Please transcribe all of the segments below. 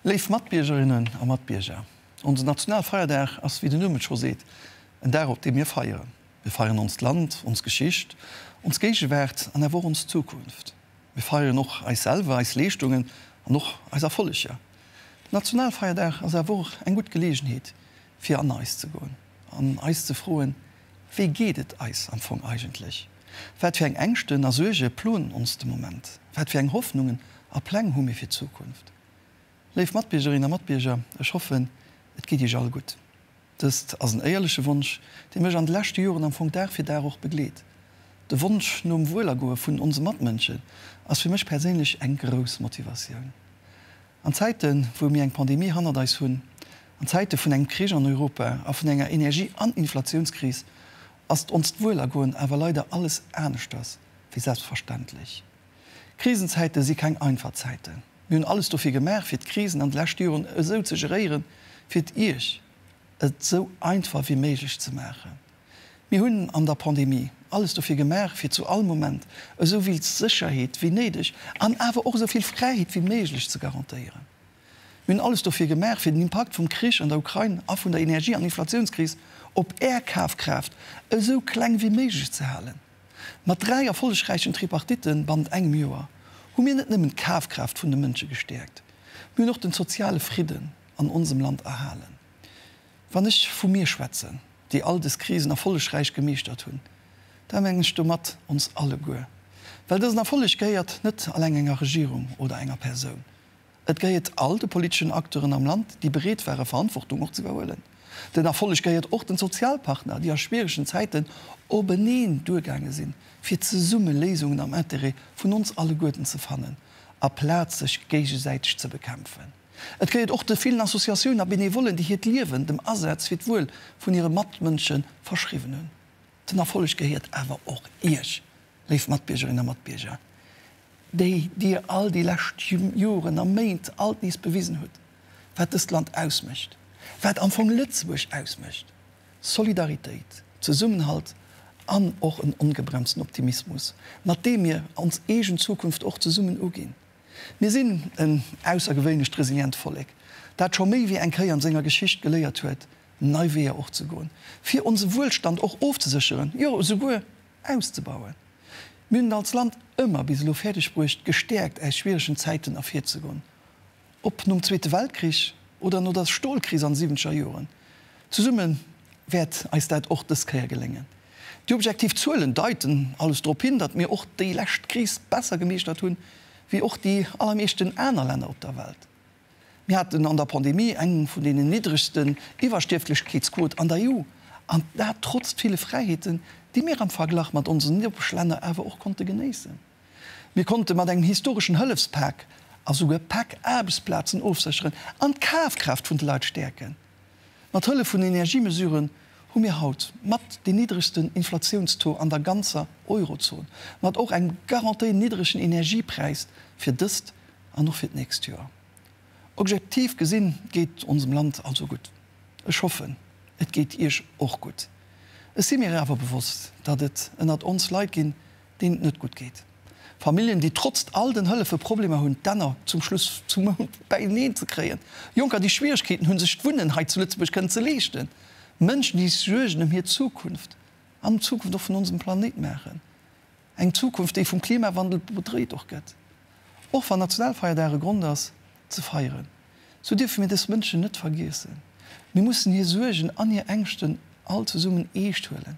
Léif Matbiergerinnen a Matbierger, onsen Nationalfeierdag ass, wéi den Numm et scho seet, en Dag op deem mir feieren. Mir feieren onst Land, ons Geschicht, ons Géigewaart an awer och ons Zukunft. Mir feieren och eis selwer, eis Leeschtungen an och eis Erfolleger. Den Nationalfeierdag ass awer och eng gutt Geleegenheet fir an eis ze goen an eis ze froen, Wéi geet et eis am Fong eigentlech? Wat fir eng Ängschten a Suerge ploen ons de Moment? Wat fir eng Hoffnungen a Pläng hu mir fir d'Zukunft? Léif Matbiergerinnen a Matbierger, ech hoffen, et geet Iech all gutt. Dëst ass en éierleche Wonsch, dee mech an de leschte Joren am Fong Dag fir Dag och begleet. De Wonsch nom Wuelergoe vun onse Matmënschen ass fir mech perséinlech eng grouss Motivatioun. An Zäiten, wou mir eng Pandemie hannert eis hunn, an Zäite vun engem Krich an Europa a vun enger Energie an Inflatiounskris, ass onst Wuelergoen awer leider alles aneschters wéi selbstverständlech. Krisenzäite si keng einfach Zäiten. Mir hunn alles dofir gemaach, fir d'Krisen an de leschte Joren esou ze geréieren, fir et Iech et esou einfach wéi méiglech ze maachen. Mir hunn an der Pandemie alles dofir gemaach, fir zu all Moment esou vill Sécherheet wéi néideg an awer och esou vill Fräiheet wéi méiglech ze garantéieren. Mir hunn alles dofir gemaach, fir den Impakt vum Krich an der Ukrain a vun der Energie an Inflatiounskris op Är Kafkraaft esou kleng wéi méiglech ze halen. Mat dräi erfollegräichen Tripartitten bannent engem Joer hu mir net nëmmen d'Kafkraaft vun de Mënsche gestäerkt, mir hunn och de soziale Fridden an onsem Land erhalen. Wann ech vu mir schwätzen, déi all des Krisen erfollegräich gemeeschtert hunn, da mengen ech domat ons alleguer. Well dësen Erfolleg gehéiert net alleng enger Regierung oder enger Persoun. Et gehéiert all de politeschen Acteuren am Land, déi bereet ware Verantwortung och ze iwwerhuelen. Den Erfolleg gehéiert och den Sozialpartner, déi a schwieregen Zäiten openeen duergaange sinn, fir zesumme Léisungen am Interêt vun ons alleguerten ze fannen, aplaz sech géigesäiteg ze bekämpfen. Et gehéiert och de villen Associatiounen a Benevollen, déi hiert Liewen dem Asaz fir d'Wuel vun hire Matmënsche verschriwwen hunn. Den Erfolleg gehéiert awer och Iech, léif Matbiergerinnen a Matbierger, déi Dir all déi lescht Joren a Méint alt nees bewisen hutt, wat dëst Land ausmécht, wat am Fong Lëtzebuerg ausmécht, Solidaritéit, Zesummenhalt an och en ongebremsten Optimismus, mat deem mir ons eegen Zukunft och zesummen uginn. Mir sinn en aussergewéinlecht resilient Vollek, dat scho méi wéi eng Kéier an senger Geschicht geléiert huet, nei Weeër och ze goen, fir onse Wuelstand och ofzesécheren, jo esouguer auszebauen. Mir hunn et als Land ëmmer bis elo fäerdeg bruecht, gestäerkt aus schwieregen Zäiten ervirzegoen, ob nom Zweete Weltkrich oder no der Stolkris an de siwwenzeger Joren. Zesumme wäert eis dat och dës Kéier geléngen. Déi objektiv Zuelen deiten alles drop hin, datt mir och déi lescht Kris besser gemeeschtert hunn, wéi och déi allermeeschten aner Länner op der Welt. Mir haten an der Pandemie eng vun deenen niddregsten Iwwerstierflechkeetsquote an der EU, an dat trotzt ville Fräiheeten, déi mir am Verglach mat onsen Nopeschlänner awer och konnte genéissen. Mir konnte mat engem historeschen Hëllefspak a souguer Pak Aarbechtsplazen ofsécheren an d'Kafkraaft vun de Leit stäerken. Mat Hëllef vun Energiemesuren hu mir haut mat dee niddregsten Inflatiounstaux an der ganzer Eurozon, mat och engem garantéiert niddregen Energiepräis fir dëst an och fir d'nächst Joer. Objektiv gesinn geet onsem Land also gutt. Ech hoffen, et geet Iech och gutt. Ech si mir awer bewosst, datt et ënnert ons Leit ginn, deen et net gutt geet, Familljen, déi trotzt all den Hëllefe Problemer hunn, d'Enner zum Schluss zum Mount bäineen ze kréien, Jonker, déi Schwieregkeeten hunn, sech d'Wunnen hei zu Lëtzebuerg kënnen ze leeschten, Mënschen, déi sech Suergen ëm hir Zukunft an ëm d'Zukunft och vun onsem Planéit maachen, eng Zukunft, déi vum Klimawandel bedreet och gëtt. Och wann Nationalfeierdag e Grond ass, ze feieren, sou dierfe mir dës Mënschen net vergiessen. Mir mussen hir Suergen an hir Ängschten all zesummen eescht huelen.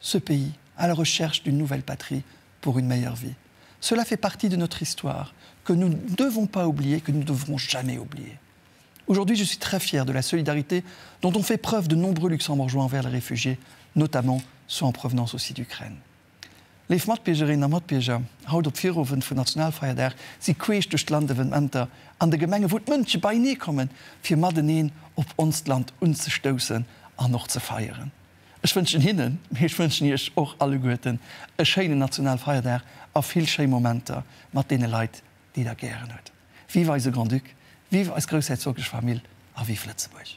Ce pays à la recherche d'une nouvelle patrie pour une meilleure vie, cela fait partie de notre histoire que nous ne devons pas oublier et que nous ne devrons jamais oublier. Aujourd'hui, je suis très fière de la solidarité dont ont fait preuve de nombreux Luxembourgeois envers les réfugiés, notamment ceux en provenance aussi d'Ukraine. Léif Matbiergerinnen a Matbierger, haut op Virowend vun Nationalfeierdag si queesch duerch d'Land Evenementer an de Gemenge wou d'Mënsche beienee kommen, fir mateneen op onst Land unzestoussen an och ze feieren. Ech wënschen hinnen, mee ech wënschen iech och alleguerten e schéinen Nationalfeierdag a vill schéi Momenter mat deene Leit, déi der gären hutt. Vive eise Grand-Duc, vive eis groussherzoglech Famill a vive Lëtzebuerg!